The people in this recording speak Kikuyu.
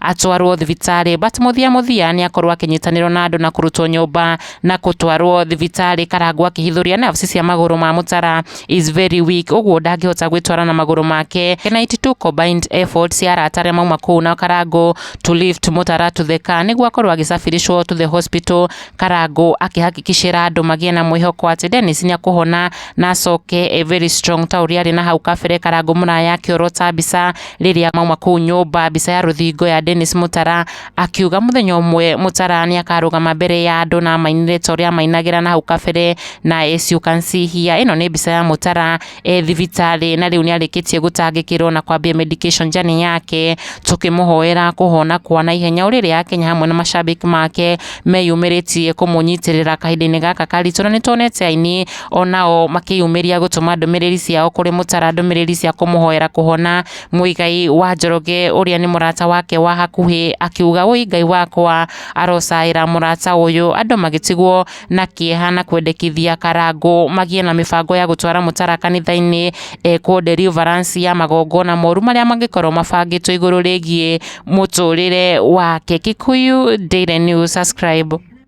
atwarwo thibitarĩ but mũthia mũthia nĩ akorwo akĩnyitanĩrwo na andũ na kũrutwo nyũmba na kũtwarwo thibitarĩ karangwo akĩhithũria nerves cia magũrũ ma mũtara is very weak ũguo ndangĩhota gwĩtwara na magũrũ make can 92 combined efforts cia arata arĩa mauma kũu na karangũ to lift mũtara to the car nĩguo akorwo agĩcabiricwo to the hospital karangũ akĩhakikicĩra andũ magĩe na mwĩhoko atĩ Dennis nĩ akũhona na acoke e very strong ta ũrĩa arĩ na hau kabere karangũ mũraya akĩorota mbica Rĩrĩa mauma kũu nyũmba, mbica ya rũthingo ya Dennis Mũtara akiuga mũthenya ũmwe Mũtara nĩ akarũgama mbere ya andũ na amainĩre ta ũrĩa amainagĩra na hau kabere na as you can see here, ĩno nĩ mbica ya Mũtara e thibitarĩ na rĩu nĩ arĩkĩtie gũtangĩkĩrwo na kwambia medication journey yake, tũkĩmũhoera kũhona kwa na ihenya. Ũrĩrĩ ya Kenya hamwe na mashabiki make meyumĩrĩtie kũmũnyitĩrĩra kahinda-inĩ gaka karitũ na nĩ tuonete aini o nao makĩyumĩria gũtũma ndũmĩrĩri ciao kũrĩ Mũtara ndũmĩrĩri cia kũmũhoera kũhona. Mũigai wa Njoroge ũrĩa nĩ mũrata wake wa hakuhĩ akiuga ũi Ngai wakwa arocaĩra mũrata ũyũ. Andũ magĩtigwo na kĩeha na kwendekithia Karangũ magiĩ na mĩbango ya gũtwara Mũtara kanitha-inĩ ekwo deliverance ya magongona moru marĩa mangĩkorwo mabangĩtwo igũrũ rĩgiĩ mũtũrĩre wake. Kikuyu Daily News, subscribe.